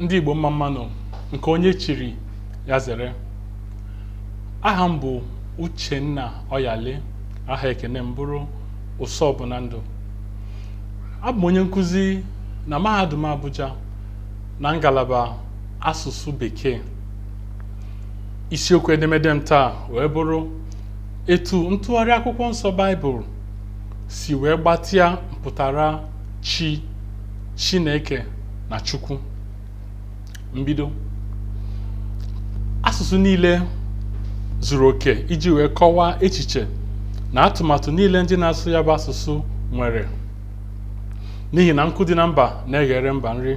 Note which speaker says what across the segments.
Speaker 1: ndị Igbo mma mma nụ nke onye chiri ya zere aha m bụ Uchenna Oyali aha ekene m bụrụ ụsọ bụ na ndụ abụ m onye nkụzi na mahadum Abuja na ngalaba asụsụ bekee isiokwu edemede m taa wee bụrụ etu ntụgharị akwụkwọ nsọ Baịbụl si wee gbatịa mpụtara Chi, Chineke na Chukwu. Mbido. Asụsụ niile zuru oke iji wee kọwaa echiche na atụmatụ niile ndị na-asụ ya bụ asụsụ nwere n'ihi na nkụ dị na mba na-eghere mba nri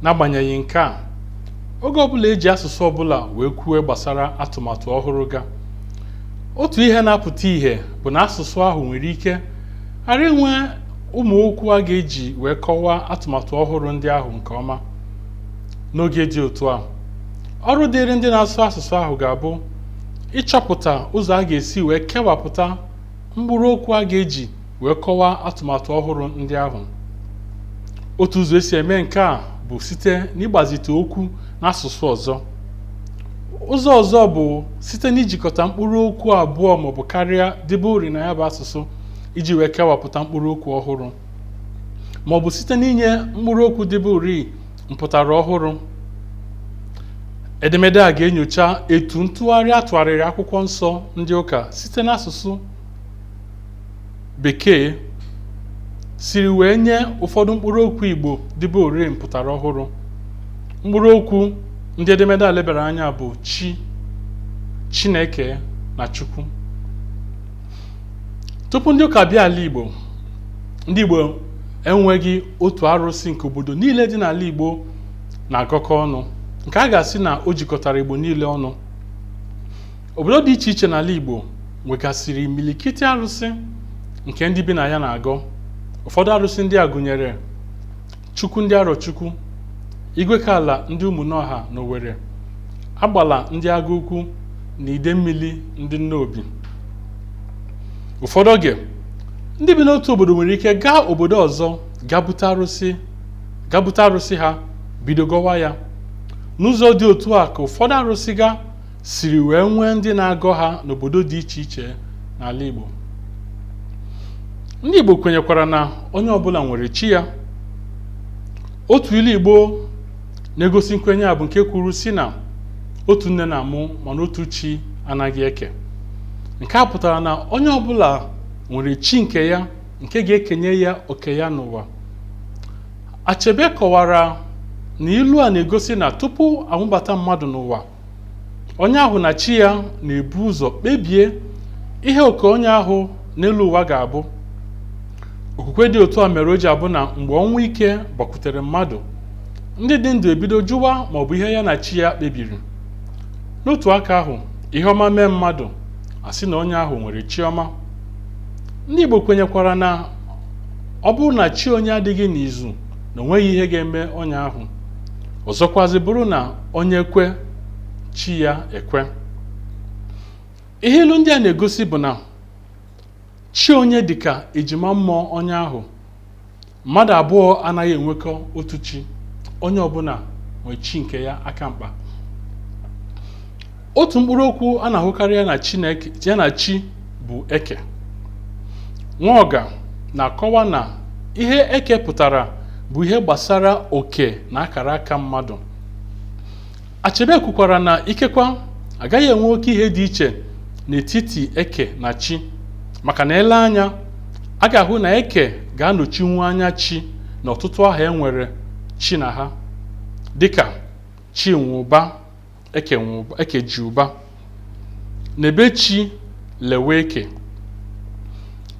Speaker 1: n'agbanyeghị nke a oge ọbụla eji asụsụ ọbụla wee kwue gbasara atụmatụ ọhụrụ ga otu ihe na-apụta ihe bụ na asụsụ ahụ nwere ike ghara inwe ụmụ okwu a ga-eji wee kọwaa atụmatụ ọhụrụ ndị ahụ nke ọma. N'oge dị otu a, ọrụ dịịrị ndị na-asụ asụsụ ahụ ga-abụ ịchọpụta ụzọ a ga-esi wee kewapụta mkpụrụ okwu a ga-eji wee kọwaa atụmatụ ọhụrụ ndị ahụ. Otu ụzọ esi eme nke a bụ site n'ịgbazite okwu n'asụsụ ọzọ. Ụzọ ọzọ bụ site n'ijikọta mkpụrụ okwu abụọ maọbụ karịa dịburịị na ya bụ asụsụ iji wee kewapụta mkpụrụ okwu ọhụrụ ma ọ bụ site n'inye mkpụrụ okwu dịburịị mpụtara ọhụrụ edemede a ga-enyocha etu ntụgharị a tụgharịrị akwụkwọ nsọ ndị ụka site n'asụsụ bekee siri wee nye ụfọdụ mkpụrụ okwu igbo dịburịị mpụtara ọhụrụ mkpụrụ okwu ndị edemede a lebara anya bụ chi chineke na chukwu tupu ndị ụka bịa ala Igbo ndị Igbo enweghị otu arụsị nke obodo niile dị n'ala Igbo na-agọkọ ọnụ nke a ga-asị na o jikọtara Igbo niile ọnụ obodo dị iche iche n'ala Igbo nwegasịrị imilikiti arụsị nke ndị bi na ya na-agọ ụfọdụ arụsị ndị a gụnyere Chukwu ndị Arọchukwu, Igwekaala ndị Ụmụnọha n'Owere, Agbala ndị Agụ Ukwu na Idemmili ndị Nnobi. Ụfọdụ oge, ndị bi n'otu obodo nwere ike gaa obodo ọzọ ga bute arụsị ha bido gọwa ya. N'ụzọ dị otu a ka ụfọdụ arụsị ga siri wee nwee ndị na-agọ ha n'obodo dị iche iche n'ala Igbo ndị Igbo kwenyekwara na onye ọbụla nwere chi ya otu ilu Igbo na-egosi nkwenye a bụ nke kwuru sị na otu nne na-amụ mana otu chi anaghị eke nke a pụtara na onye ọbụla nwere chi nke ya nke ga-ekenye ya oke ya n'ụwa Achebe kọwara na ilu a na-egosi na tupu a mụbata mmadụ n'ụwa onye ahụ na chi ya na-ebu ụzọ kpebie ihe oke onye ahụ n'elu ụwa ga-abụ okwukwe dị otu a mere o ji abụ na mgbe ọnwụ ike gbakwutere mmadụ ndị dị ndụ ebido jụwa ma ọ bụ ihe ya na chi ya kpebiri n'otu aka ahụ ihe ọma mee mmadụ a sị na onye ahụ nwere chi ọma ndị Igbo kwenyekwara na ọ bụrụ na chi onye adịghị n'izu na o nweghị ihe ga-eme onye ahụ ọzọkwazi bụrụ na onye kwe chi ya ekwe ihe ilu ndị a na-egosi bụ na chi onye dịka ejima mmụọ onye ahụ mmadụ abụọ anaghị enwekọ otu chi onye ọbụla nwee chi nke ya aka mkpa otu mkpụrụ okwu a na-ahụkarị ya na chi bụ eke Nwaọga na-akọwa na ihe eke pụtara bụ ihe gbasara oke na akara aka mmadụ Achebe kwukwara na ikekwa agaghị enwe oke ihe dị iche n'etiti eke na chi maka na e lee anya a ga-ahụ na eke ga-anọchinwu anya chi na ọtụtụ aha e nwere chi na ha dịka Chinweụba Ekejiụba Nebechi Leweke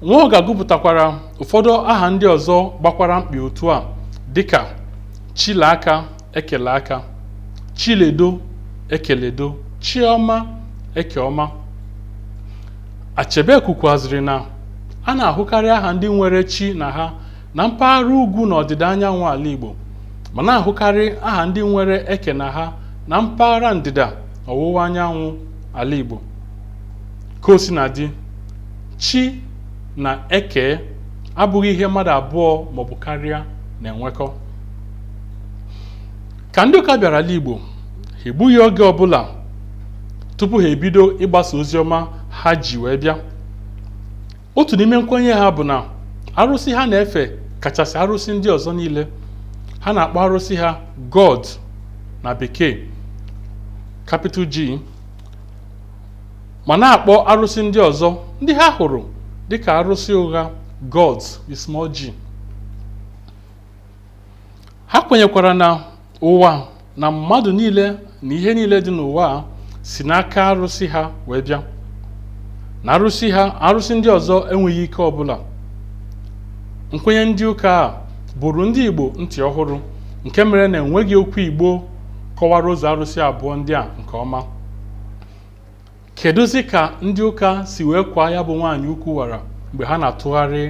Speaker 1: Nwaọga gụpụtakwara ụfọdụ aha ndị ọzọ gbakwara mkpị otu a dịka Chileaka Ekeleaka Chiledo Ekeledo Chiọma Ekeọma Achebe kwukwaziri na a na-ahụkarị aha ndị nwere chi na ha na mpaghara ugwu na ọdịda anyanwụ ala Igbo ma na-ahụkarị aha ndị nwere eke na ha na mpaghara ndịda ọwụwa anyanwụ ala Igbo ka o sina dị chi na eke abụghị ihe mmadụ abụọ maọbụ karịa na-enwekọ ka ndị ụka bịara ala Igbo ha egbughị oge ọbụla tupu ha ebido ịgbasa ozi ọma ha ji wee bịa otu n'ime nkwenye ha bụ na arụsị ha na-efe kachasị arụsị ndị ọzọ niile ha na-akpọ arụsị ha God na Bekee capital G ma na-akpọ arụsị ndị ọzọ ndị ha hụrụ dịka arụsị ụgha gods with small g ha kwenyekwara na ụwa na mmadụ niile na ihe niile dị n'ụwa a si n'aka arụsị ha wee bịa na arụsị ha arụsị ndị ọzọ enweghị ike ọbụla nkwenye ndị ụka a bụrụ ndị Igbo ntị ọhụrụ nke mere na enweghị okwu Igbo kọwara ụzọ arụsị abụọ ndị a nke ọma kedụzi ka ndị ụka si wee kwaa ya bụ nwaanyị ukwu wara mgbe ha na-atụgharị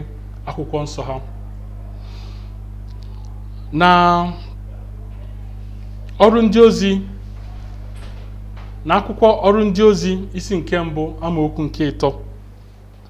Speaker 1: akwụkwọ nsọ ha na ọrụ ndị ozi na akwụkwọ ọrụ ndị ozi isi nke mbụ amaokwu nke ịtọ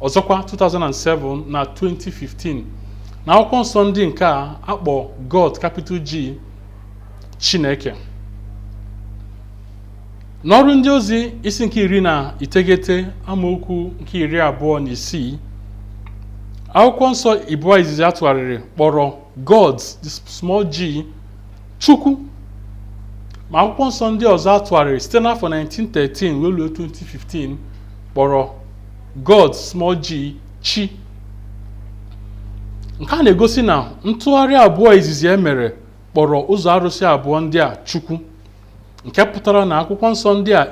Speaker 1: ọzọkwa 2007 na 2015 na akwụkwọ nsọ ndị nke a akpọ God capital G Chineke n'ọrụ ndị ozi isi nke iri na iteghete amaokwu nke iri abụọ na isii akwụkwọ nsọ ịbụa izizi atụgharịrị kpọrọ God the small g Chukwu ma akwụkwọ nsọ ndị ọzọ atụgharịrị site n'afọ 1913 wee ruo 2015 kpọrọ God, small g, chi. Nke a na-egosi na ntụgharị abụọ izizi e mere kpọrọ ụzọ arụsị abụọ ndị a Chukwu nke pụtara na akwụkwọ nsọ ndị a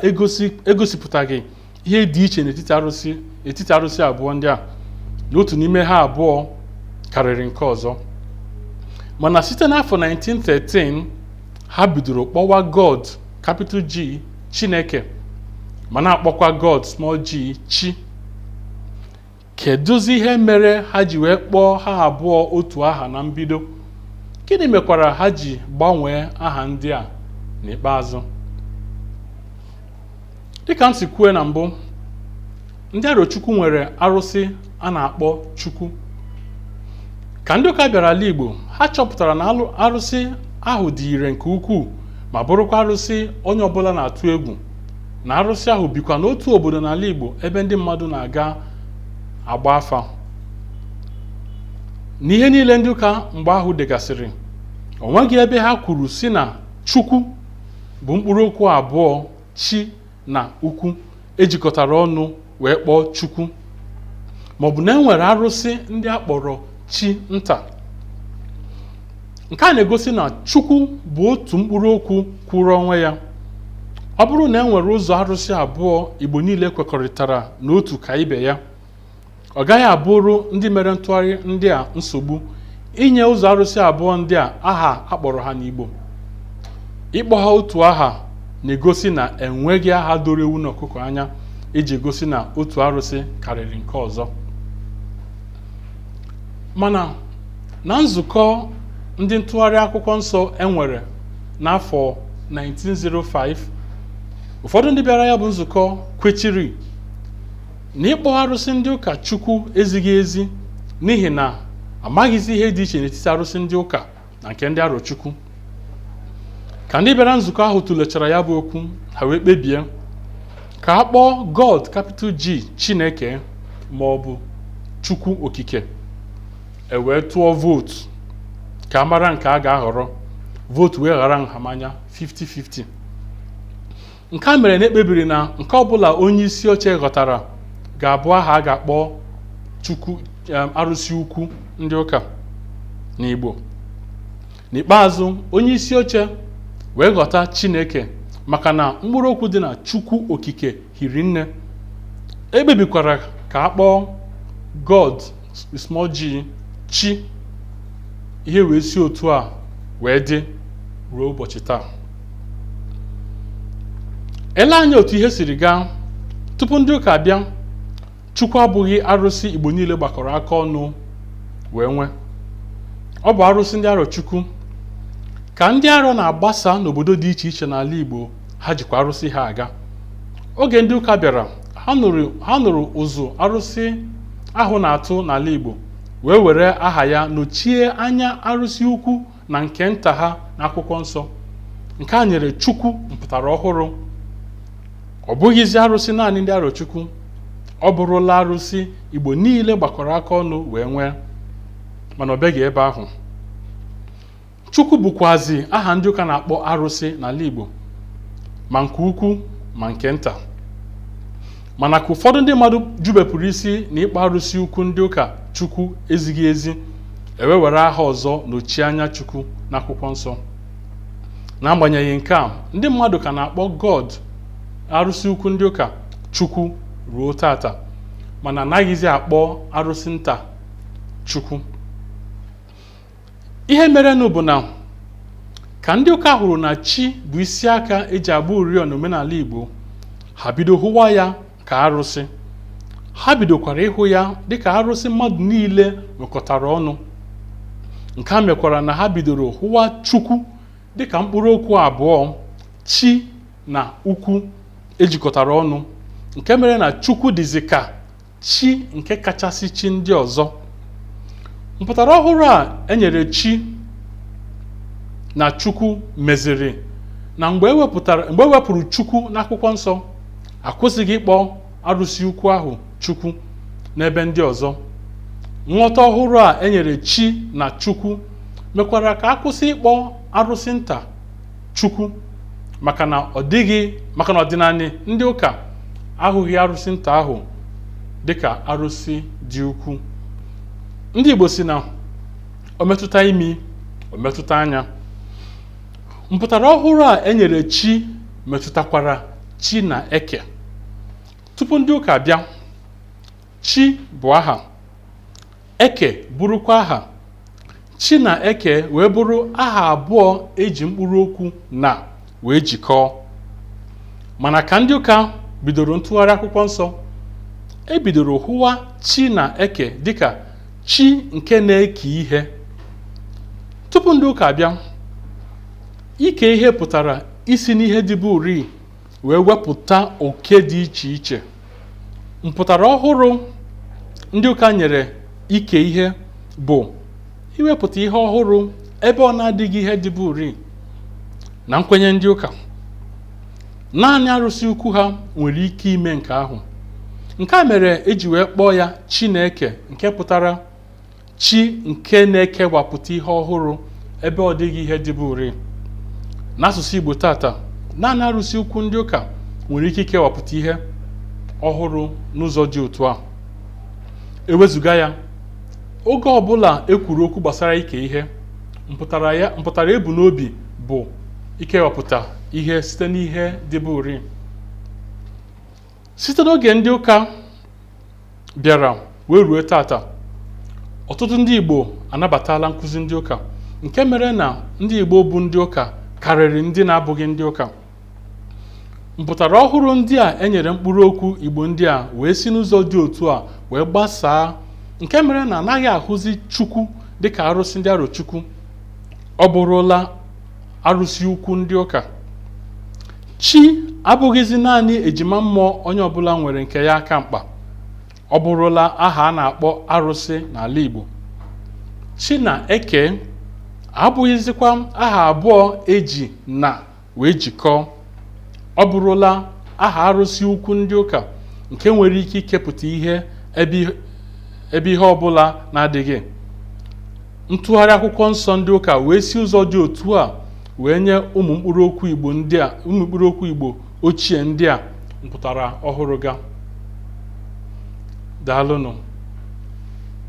Speaker 1: egosipụtaghị ihe dị iche n'etiti arụsị abụọ ndị a na otu n'ime ha abụọ karịrị nke ọzọ mana site n'afọ 1913 ha bidoro kpọwa God capital G Chineke ma na-akpọkwa God small g chi kedụzi ihe mere ha ji wee kpọọ ha abụọ otu aha na mbido gịnị mekwara ha ji gbanwee aha ndị a n'ikpeazụ dịka m si kwue na mbụ ndị arochukwu nwere arụsị a na-akpọ chukwu ka ndị ụka bịara ala igbo ha chọpụtara na alụ- arụsị ahụ dị ire nke ukwuu ma bụrụkwa arụsị onye ọbụla na-atụ egwu na arụsị ahụ bikwa n'otu obodo n'ala igbo ebe ndị mmadụ na-aga agba afa n'ihe niile ndị ụka mgbe ahụ degasịrị o nweghị ebe ha kwuru sị na chukwu bụ mkpụrụ okwu abụọ chi na ukwu ejikọtara ọnụ wee kpọọ chukwu maọbụ na enwere arụsị ndị a kpọrọ chi nta nke a na-egosi na chukwu bụ otu mkpụrụ okwu kwụrụ onwe ya ọ bụrụ na enwere ụzọ arụsị abụọ igbo niile kwekọrịtara na otu ka ibe ya ọ gaghị abụrụ ndị mere ntụgharị ndị a nsogbu inye ụzọ arụsị abụọ ndị a aha akpọrọ ha n'Igbo ịkpọ ha otu aha na-egosi na enweghị aha doro ewu na ọkụkọ anya eji egosi na otu arụsị karịrị nke ọzọ mana na nzukọ ndị ntụgharị akwụkwọ nsọ enwere n'afọ 1905 ụfọdụ ndị bịara ya bụ nzukọ kwechiri na ịkpọ arụsị ndị ụka chukwu ezighị ezi n'ihi na amaghịzi ihe dị iche n'etiti arụsị ndị ụka na nke ndị arọchukwu ka ndị bịara nzukọ ahụ tụlechara ya bụ okwu ha wee kpebie ka a kpọọ god capital G chineke ma ọ bụ chukwu okike e wee tụọ vootu ka a mara nke a ga-ahọrọ vootu wee hara nhamanya 50-50 nke a mere na ekpebiri na nke ọbụla onye isi oche ghọtara ga-abụ aha a ga-akpọ chukwu em, arụsị ukwu ndị ụka n'igbo n'ikpeazụ onye isi oche wee ghọta chineke maka na mkpụrụ okwu dị na chukwu okike hiri nne ekpebikwara ka a kpọọ god small g chi ihe wee si otu a wee dị ruo ụbọchị taa elee anya otu ihe siri gaa tupu ndị ụka abịa chukwu abụghị arụsị igbo niile gbakọrọ aka ọnụ wee nwee ọ bụ arụsị ndị arọchukwu ka ndị arọ na-agbasa n'obodo dị iche iche n'ala igbo ha jikwa arụsị ha aga oge ndị ụka bịara ha nụrụ ụzụ arụsị ahụ na-atụ n'ala Igbo wee were aha ya nọchie anya arụsị ukwu na nke nta ha n'akwụkwọ nsọ nke a nyere Chukwu mpụtara ọhụrụ ọ bụghịzi arụsị naanị ndị Arochukwu ọ bụrụla arụsị Igbo niile gbakọrọ aka ọnụ wee nwee mana o beghị ebe ahụ Chukwu bụkwazi aha ndị ụka na-akpọ arụsị n'ala Igbo ma nke ukwu ma nke nta mana ka ụfọdụ ndị mmadụ jubepụrụ isi na ịkpọ arụsị ukwu ndị ụka Chukwu ezighị ezi e wee were aha ọzọ nọchie anya Chukwu n'akwụkwọ nsọ n'agbanyeghị nke a ndị mmadụ ka na-akpọ God arụsị ukwu ndị ụka Chukwu ruo tata mana anaghịzi akpọ arụsị nta Chukwu ihe merenụ bụ na ka ndị ụka hụrụ na chi bụ isi aka eji agba ụrịọ n'omenala Igbo ha bido hụwa ya ka arụsị ha bidokwara ịhụ ya dịka arụsị mmadụ niile nwekọtara ọnụ nke a mekwara na ha bidoro hụwa chukwu dịka mkpụrụ okwu abụọ chi na ukwu ejikọtara ọnụ nke mere na chukwu dịzi ka chi nke kachasị chi ndị ọzọ mpụtara ọhụrụ a enyere chi na chukwu meziri na mgbe e wepụrụ chukwu n'akwụkwọ nsọ akwụsịghị ịkpọ arụsị ukwu ahụ chukwu n'ebe ndị ọzọ nghọta ọhụrụ a enyere chi na chukwu mekwara ka akwụsị ịkpọ arụsị nta Chukwu maka na ọdịnanị ndị ụka ahụghị arụsị nta ahụ dịka arụsị dị ukwu ndị Igbo si na o metụta imi o metụta anya mpụtara ọhụrụ a enyere chi metụtakwara chi na eke tupu ndị ụka bịa chi bụ aha Eke bụrụkwa aha. Chi na Eke wee bụrụ aha abụọ eji mkpụrụ okwu na wee jikọọ. Mana ka ndị ụka bidoro ntụgharị akwụkwọ nsọ, e bidoro hụwa Chi na Eke dịka chi nke na-eke ihe. Tupu ndị ụka abịa, ike ihe pụtara isi n'ihe dịburii wee wepụta oke dị iche iche. mpụtara ọhụrụ ndị ụka nyere ike ihe bụ iwepụta ihe ọhụrụ ebe ọ na-adịghị ihe dịburii na nkwenye ndị ụka naanị arụsị ukwu ha nwere ike ime nke ahụ nke a mere eji wee kpọọ ya chineke nke pụtara chi nke na-ekewapụta ihe ọhụrụ ebe ọ dịghị ihe dịburii n'asụsụ Igbo tata naanị arụsị ukwu ndị ụka nwere ike ikewapụta ihe ọhụrụ n'ụzọ dị otu a ewezuga ya oge ọbụla e kwuru okwu gbasara ike ihe mpụtara ebu n'obi bụ ikewapụta ihe site n'ihe dịburii site n'oge ndị ụka bịara wee ruo tata ọtụtụ ndị Igbo anabatala nkụzi ndị ụka nke mere na ndị Igbo bụ ndị ụka karịrị ndị na-abụghị ndị ụka mpụtara ọhụrụ ndị a enyere mkpụrụ okwu Igbo ndị a wee si n'ụzọ dị otu a wee gbasaa nke mere na anaghị ahụzi Chukwu dịka arụsị ndị Arọchukwu ọ bụrụla arụsị ukwu ndị ụka Chi abụghịzi naanị ejima mmụọ onye ọbụla nwere nke ya aka mkpa. Ọ bụrụla aha a na-akpọ arụsị n'ala Igbo. Chi na Eke abụghịzikwa aha abụọ e ji na wee jikọọ. Ọ bụrụla aha arụsị ukwu ndị ụka nke nwere ike ikepụta ihe ebe ihe ọbụla na-adịghị. Ntụgharị akwụkwọ nsọ ndị ụka wee si ụzọ dị otu a wee nye ụmụ mkpụrụ okwu Igbo ndị a ụmụ mkpụrụ okwu Igbo ochie ndị a mpụtara ọhụrụ ga daalụnụ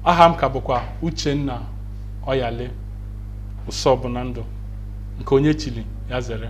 Speaker 1: aha m ka bụkwa Uchenna Oyali ụsọ bụ na ndụ nke onye chili ya zere